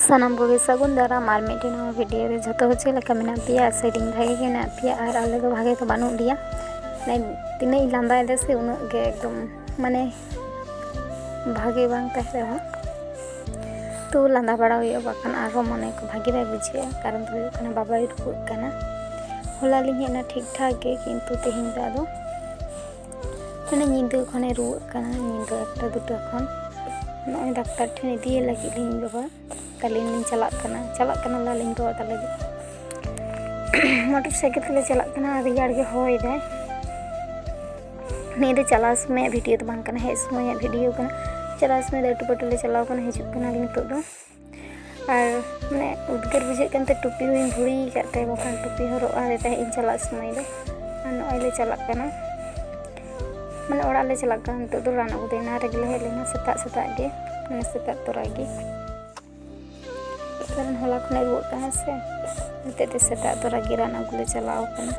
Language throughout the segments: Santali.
ᱥᱟᱱᱟᱢ ᱠᱚᱜᱮ ᱥᱟᱹᱜᱩᱱ ᱫᱟᱨᱟᱢ ᱟᱨ ᱢᱤᱫᱴᱮᱱ ᱱᱚᱣᱟ ᱵᱷᱤᱰᱤᱭᱳ ᱨᱮ ᱡᱷᱚᱛᱚ ᱦᱚᱲ ᱪᱮᱫ ᱞᱮᱠᱟ ᱢᱮᱱᱟᱜ ᱯᱮᱭᱟ ᱥᱮᱨᱮᱧ ᱵᱷᱟᱜᱮ ᱜᱮ ᱢᱮᱱᱟᱜ ᱯᱮᱭᱟ ᱟᱨ ᱟᱞᱮ ᱫᱚ ᱵᱷᱟᱜᱮ ᱫᱚ ᱵᱟᱹᱱᱩᱜ ᱞᱮᱭᱟ ᱛᱤᱱᱟᱹᱜ ᱤᱧ ᱞᱟᱸᱫᱟᱭᱮᱫᱟ ᱥᱮ ᱩᱱᱟᱹᱜ ᱜᱮ ᱮᱠᱫᱚᱢ ᱢᱟᱱᱮ ᱵᱷᱟᱜᱮ ᱵᱟᱝ ᱛᱟᱦᱮᱸ ᱨᱮᱦᱚᱸ ᱛᱚ ᱞᱟᱸᱫᱟ ᱵᱟᱲᱟ ᱦᱩᱭᱩᱜᱼᱟ ᱵᱟᱠᱷᱟᱱ ᱟᱨᱦᱚᱸ ᱢᱚᱱᱮ ᱠᱚ ᱵᱷᱟᱜᱮ ᱵᱟᱭ ᱵᱩᱡᱷᱟᱹᱜᱼᱟ ᱠᱟᱨᱚᱱ ᱫᱚ ᱦᱩᱭᱩᱜ ᱠᱟᱱᱟ ᱵᱟᱵᱟᱭ ᱨᱩᱣᱟᱹᱜ ᱠᱟᱱᱟ ᱦᱚᱞᱟ ᱞᱤᱧ ᱦᱮᱡ ᱮᱱᱟ ᱴᱷᱤᱠ ᱴᱷᱟᱠ ᱜᱮ ᱠᱤᱱᱛᱩ ᱛᱮᱦᱮᱧ ᱫᱚ ᱟᱫᱚ ᱢᱟᱱᱮ ᱧᱤᱫᱟᱹ ᱠᱷᱚᱱᱮ ᱨᱩᱣᱟᱹᱜ ᱠᱟᱱᱟ ᱧᱤᱫᱟᱹ ᱮᱠᱴᱟ ᱫᱩᱴᱟ ᱠᱷᱚᱱ ᱱᱚᱜᱼᱚᱭ ᱰᱟᱠᱛᱟᱨ ᱴᱷᱮᱱ ᱤᱫᱤᱭᱮ ᱞᱟᱹᱜᱤᱫ ᱞᱤᱧ ᱵᱟᱵᱟ ᱛᱟᱹᱞᱤᱧ ᱞᱤᱧ ᱪᱟᱞᱟᱜ ᱠᱟᱱᱟ ᱪᱟᱞᱟᱜ ᱠᱟᱱᱟᱞᱮ ᱟᱹᱞᱤᱧ ᱵᱟᱵᱟ ᱛᱟᱞᱮ ᱜᱮ ᱢᱚᱴᱚᱨ ᱥᱟᱭᱠᱮᱞ ᱛᱮᱞᱮ ᱪᱟᱞᱟᱜ ᱠᱟᱱᱟ ᱨᱮᱭᱟᱲ ᱜᱮ ᱦᱚᱭ ᱫᱟᱭ ᱱᱤᱭᱟᱹ ᱫᱚ ᱪᱟᱞᱟᱣ ᱥᱚᱢᱚᱭᱟᱜ ᱵᱷᱤᱰᱤᱭᱳ ᱫᱚ ᱵᱟᱝ ᱠᱟᱱᱟ ᱦᱮᱡ ᱥᱚᱢᱚᱭᱟᱜ ᱵᱷᱤᱰᱤᱭᱳ ᱠᱟᱱᱟ ᱪᱟᱞᱟᱣ ᱥᱚᱢᱚᱭ ᱫᱚ ᱟᱹᱴᱩ ᱯᱟᱹᱴᱩ ᱞᱮ ᱪᱟᱞᱟᱣ ᱠᱟᱱᱟ ᱦᱤᱡᱩᱜ ᱠᱟᱱᱟᱞᱮ ᱱᱤᱛᱚᱜ ᱫᱚ ᱟᱨ ᱢᱟᱱᱮ ᱩᱫᱽᱜᱟᱹᱨ ᱵᱩᱡᱷᱟᱹᱜ ᱠᱟᱱ ᱛᱮ ᱴᱩᱯᱤ ᱦᱚᱧ ᱵᱷᱩᱲᱤ ᱟᱠᱟᱫ ᱛᱮ ᱵᱟᱠᱷᱟᱱ ᱴᱩᱯᱤ ᱦᱚᱨᱚᱜ ᱟᱫᱮ ᱛᱟᱦᱮᱸᱫ ᱤᱧ ᱪᱟᱞᱟᱜ ᱥᱚᱢᱚᱭ ᱫᱚ ᱟᱨ ᱱᱚᱜᱼᱚᱭ ᱞᱮ ᱪᱟᱞᱟᱜ ᱠᱟᱱᱟ ᱢᱟᱱᱮ ᱚᱲᱟᱜ ᱞᱮ ᱪᱟᱞᱟᱜ ᱠᱟᱱᱟ ᱱᱤᱛᱚᱜ ᱫᱚ ᱨᱟᱱ ᱟᱹᱜᱩ ᱫᱚ ᱮᱱᱟ ᱨᱮᱜᱮ ᱞᱮ ᱦᱮᱡ ᱞᱮᱱᱟ ᱥᱮᱛᱟᱜ ᱥᱮᱛᱟᱜ ᱜᱮ ᱢᱟᱱᱮ ᱥᱮᱛᱟᱜ ᱛᱚᱨᱟ ᱜᱮ ᱠᱟᱨᱚᱱ ᱦᱚᱞᱟ ᱠᱷᱚᱱᱮ ᱨᱩᱣᱟᱹᱜ ᱠᱟᱱᱟ ᱥᱮ ᱱᱤᱛᱚᱜ ᱫᱚ ᱥᱮᱛᱟᱜ ᱛᱚᱨᱟ ᱜᱮ ᱨᱟᱱ ᱟᱹᱜᱩ ᱞᱮ ᱪᱟᱞᱟᱣ ᱠᱟᱱᱟ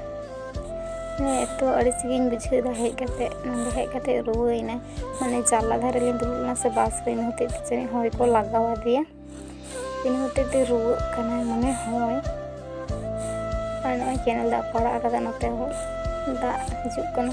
ᱦᱮᱸ ᱮᱛᱚ ᱟᱹᱲᱤᱥ ᱜᱤᱧ ᱵᱩᱡᱷᱟᱹᱣ ᱮᱫᱟ ᱦᱮᱡ ᱠᱟᱛᱮ ᱱᱚᱰᱮ ᱦᱮᱡ ᱠᱟᱛᱮ ᱨᱩᱣᱟᱹᱭᱮᱱᱟ ᱢᱟᱱᱮ ᱡᱟᱱᱞᱟ ᱫᱷᱟᱨᱮ ᱞᱤᱧ ᱫᱩᱲᱩᱵ ᱞᱮᱱᱟ ᱥᱮ ᱵᱟᱥ ᱨᱮ ᱤᱱᱟᱹ ᱦᱚᱛᱮᱡ ᱛᱮ ᱡᱟᱹᱱᱤᱡ ᱦᱚᱭ ᱠᱚ ᱞᱟᱜᱟᱣ ᱟᱫᱮᱭᱟ ᱤᱱᱟᱹ ᱦᱚᱛᱮᱡ ᱛᱮ ᱨᱩᱣᱟᱹᱜ ᱠᱟᱱᱟᱭ ᱢᱚᱱᱮ ᱦᱚᱭ ᱟᱨ ᱱᱚᱜᱼᱚᱭ ᱠᱮᱱᱮᱞ ᱫᱟᱜ ᱠᱚ ᱟᱲᱟᱜ ᱟᱠᱟᱫᱟ ᱱᱚᱛᱮ ᱦᱚᱸ ᱫᱟᱜ ᱦᱤᱡᱩᱜ ᱠᱟᱱᱟ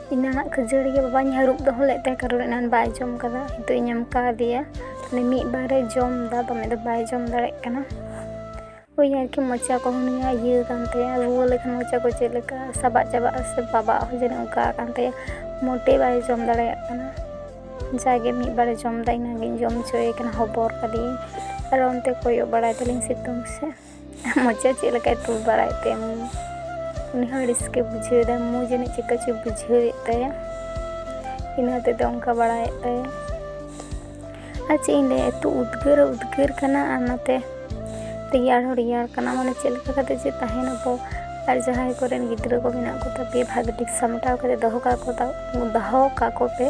ᱮᱱᱟᱱᱟᱜ ᱠᱷᱟᱹᱡᱟᱹᱲᱤ ᱜᱮ ᱵᱟᱵᱟᱧ ᱦᱟᱹᱨᱩᱵ ᱫᱚᱦᱚ ᱞᱮᱫ ᱛᱟᱭᱟ ᱠᱟᱨᱚᱱ ᱮᱱᱟᱱ ᱵᱟᱭ ᱡᱚᱢ ᱠᱟᱫᱟ ᱱᱤᱛᱚᱜ ᱤᱧ ᱮᱢ ᱠᱟᱣᱫᱮᱭᱟ ᱛᱟᱦᱞᱮ ᱢᱤᱫ ᱵᱟᱨᱮ ᱡᱚᱢ ᱫᱟ ᱫᱚᱢᱮ ᱫᱚ ᱵᱟᱭ ᱡᱚᱢ ᱫᱟᱲᱮᱜ ᱠᱟᱱᱟ ᱳᱭ ᱟᱨᱠᱤ ᱢᱚᱪᱟ ᱠᱚ ᱱᱤᱭᱟ ᱤᱭᱟᱹ ᱠᱟᱱ ᱛᱟᱭᱟ ᱨᱩᱣᱟᱹ ᱞᱮᱠᱷᱟᱱ ᱢᱚᱪᱟ ᱠᱚ ᱪᱮᱫ ᱞᱮᱠᱟ ᱥᱟᱵᱟᱜ ᱪᱟᱵᱟᱜᱼᱟ ᱥᱮ ᱵᱟᱵᱟᱜ ᱦᱚᱸ ᱡᱟᱹᱱᱤᱡ ᱚᱱᱠᱟ ᱠᱟᱱ ᱛᱟᱭᱟ ᱢᱚᱴᱮ ᱵᱟᱭ ᱡᱚᱢ ᱫᱟᱲᱮᱭᱟᱜ ᱠᱟᱱᱟ ᱡᱟᱜᱮ ᱢᱤᱫ ᱵᱟᱨᱮ ᱡᱚᱢ ᱫᱟ ᱤᱱᱟᱹᱜᱤᱧ ᱡᱚᱢ ᱦᱚᱪᱚᱭᱮ ᱠᱟᱱᱟ ᱦᱚᱵᱚᱨ ᱠᱟᱫᱮᱭᱟᱹᱧ ᱟᱨ ᱚᱱᱛᱮ ᱠᱚᱭᱚᱜ ᱵᱟᱲᱟᱭ ᱫᱟᱞᱤᱧ ᱥᱤᱛᱩᱝ ᱥᱮᱫ ᱢᱚᱪᱟ ᱪᱮᱫ ᱞᱮᱠᱟᱭ ᱛᱩᱞ ᱵᱟᱲᱟᱭᱮᱫ ᱛᱮ ᱩᱱᱤ ᱦᱚᱸ ᱟᱹᱲᱤᱥ ᱜᱮ ᱵᱩᱡᱷᱟᱹᱣᱮᱫᱟ ᱢᱩ ᱡᱟᱹᱱᱤᱡ ᱪᱮᱠᱟ ᱪᱚ ᱵᱩᱡᱷᱟᱹᱣᱮᱫ ᱛᱟᱭᱟ ᱤᱱᱟᱹ ᱦᱚᱛᱮᱡ ᱛᱮ ᱚᱱᱠᱟ ᱵᱟᱲᱟᱭᱮᱫ ᱛᱟᱭᱟ ᱟᱨ ᱪᱮᱫ ᱤᱧ ᱞᱟᱹᱭᱟ ᱮᱛᱚ ᱩᱫᱽᱜᱟᱹᱨ ᱩᱫᱽᱜᱟᱹᱨ ᱠᱟᱱᱟ ᱟᱨ ᱱᱟᱛᱮ ᱨᱮᱭᱟᱲ ᱦᱚᱸ ᱨᱮᱭᱟᱲ ᱠᱟᱱᱟ ᱢᱟᱱᱮ ᱪᱮᱫ ᱞᱮᱠᱟ ᱠᱟᱛᱮ ᱡᱮ ᱛᱟᱦᱮᱱᱟᱵᱚ ᱟᱨ ᱡᱟᱦᱟᱸᱭ ᱠᱚᱨᱮᱱ ᱜᱤᱫᱽᱨᱟᱹ ᱠᱚ ᱢᱮᱱᱟᱜ ᱠᱚ ᱛᱟᱯᱮ ᱵᱷᱟᱜᱮ ᱴᱷᱤᱠ ᱥᱟᱢᱴᱟᱣ ᱠᱟᱛᱮ ᱫᱚᱦᱚ ᱠᱟᱠᱚ ᱫᱚᱦᱚ ᱠᱟᱠᱚ ᱯᱮ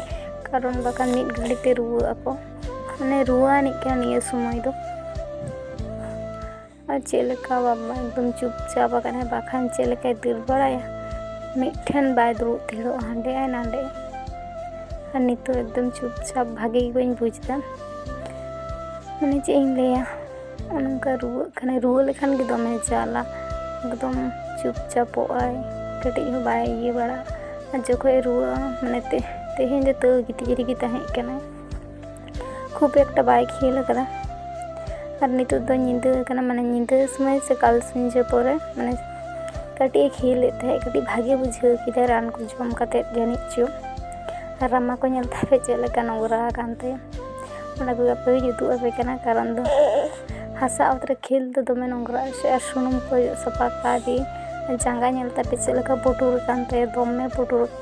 ᱠᱟᱨᱚᱱ ᱵᱟᱠᱷᱟᱱ ᱢᱤᱫ ᱜᱷᱟᱹᱲᱤᱡ ᱛᱮ ᱨᱩᱣᱟᱹᱜ ᱟᱠᱚ ᱢᱟᱱᱮ ᱨᱩᱣᱟᱹ ᱟᱹᱱᱤᱡ ᱠᱟᱱᱟ ᱱᱤᱭᱟᱹ ᱥᱚᱢᱚᱭ ᱫᱚ ᱟᱨ ᱪᱮᱫ ᱞᱮᱠᱟ ᱵᱟᱵᱟ ᱮᱠᱫᱚᱢ ᱪᱩᱯᱪᱟᱯ ᱟᱠᱟᱱᱟᱭ ᱵᱟᱠᱷᱟᱱ ᱪᱮᱫ ᱞᱮᱠᱟᱭ ᱫᱟᱹᱲ ᱵᱟᱲᱟᱭᱟ ᱢᱤᱫᱴᱷᱮᱱ ᱵᱟᱭ ᱫᱩᱲᱩᱵ ᱛᱷᱤᱨᱚᱜᱼᱟ ᱦᱟᱸᱰᱮ ᱟᱭ ᱱᱟᱸᱰᱮ ᱟᱨ ᱱᱤᱛᱚᱜ ᱮᱠᱫᱚᱢ ᱪᱩᱯᱪᱟᱯ ᱵᱷᱟᱜᱮ ᱜᱮ ᱵᱟᱹᱧ ᱵᱩᱡᱽ ᱮᱫᱟ ᱢᱟᱱᱮ ᱪᱮᱫ ᱤᱧ ᱞᱟᱹᱭᱟ ᱚᱱᱠᱟ ᱨᱩᱣᱟᱹᱜ ᱠᱟᱱᱟᱭ ᱨᱩᱣᱟᱹ ᱞᱮᱠᱷᱟᱱ ᱜᱮ ᱫᱚᱢᱮ ᱡᱟᱞᱟ ᱮᱠᱫᱚᱢ ᱪᱩᱯᱪᱟᱯᱚᱜ ᱟᱭ ᱠᱟᱹᱴᱤᱡ ᱦᱚᱸ ᱵᱟᱭ ᱤᱭᱟᱹ ᱵᱟᱲᱟᱜᱼᱟ ᱟᱨ ᱡᱚᱠᱷᱚᱡ ᱨᱩᱣᱟᱹᱜᱼᱟ ᱢᱟᱱᱮ ᱛᱮᱦᱮᱧ ᱫᱚ ᱛᱟᱹᱣ ᱜᱤᱛᱤᱡ ᱨᱮᱜᱮ ᱛᱟᱦᱮᱸᱜ ᱠᱟᱱᱟᱭ ᱠᱷᱩᱵ ᱮᱠᱴᱟ ᱵᱟᱭ ᱠᱷᱮᱞ ᱟᱠᱟᱫᱟ ᱟᱨ ᱱᱤᱛᱚᱜ ᱫᱚ ᱧᱤᱫᱟᱹ ᱠᱟᱱᱟ ᱢᱟᱱᱮ ᱧᱤᱫᱟᱹ ᱥᱚᱢᱚᱭ ᱥᱮ ᱠᱟᱞ ᱥᱤᱧᱡᱟᱹ ᱯᱚᱨᱮ ᱢᱟᱱᱮ ᱠᱟᱹᱴᱤᱡ ᱮ ᱠᱷᱮᱞᱮᱫ ᱛᱟᱦᱮᱸᱫ ᱠᱟᱹᱴᱤᱡ ᱵᱷᱟᱜᱮ ᱵᱩᱡᱷᱟᱹᱣ ᱠᱮᱫᱟ ᱨᱟᱱ ᱠᱚ ᱡᱚᱢ ᱠᱟᱛᱮᱫ ᱡᱟᱹᱱᱤᱡ ᱪᱚ ᱟᱨ ᱨᱟᱢᱟ ᱠᱚ ᱧᱮᱞ ᱛᱟᱦᱮᱸ ᱪᱮᱫ ᱞᱮᱠᱟ ᱱᱚᱝᱨᱟ ᱟᱠᱟᱱ ᱛᱟᱭᱟ ᱚᱱᱟ ᱠᱚᱜᱮ ᱟᱯᱮ ᱦᱚᱸᱧ ᱩᱫᱩᱜ ᱟᱯᱮ ᱠᱟᱱᱟ ᱠᱟᱨᱚᱱ ᱫᱚ ᱦᱟᱥᱟ ᱚᱛ ᱨᱮ ᱠᱷᱮᱞ ᱫᱚ ᱫᱚᱢᱮ ᱱᱚᱝᱨᱟ ᱥᱮ ᱟᱨ ᱥᱩᱱᱩᱢ ᱠᱚ ᱚᱡᱚᱜ ᱥᱟᱯᱷᱟ ᱠᱟᱫᱮ ᱡᱟᱸᱜᱟ ᱧᱮᱞ ᱛᱟᱯᱮ ᱪᱮᱫ ᱞᱮᱠᱟ ᱯᱩᱴᱩᱨ ᱟᱠᱟᱱ ᱛᱟᱭᱟ ᱫᱚᱢᱮ ᱯᱩᱴᱩᱨ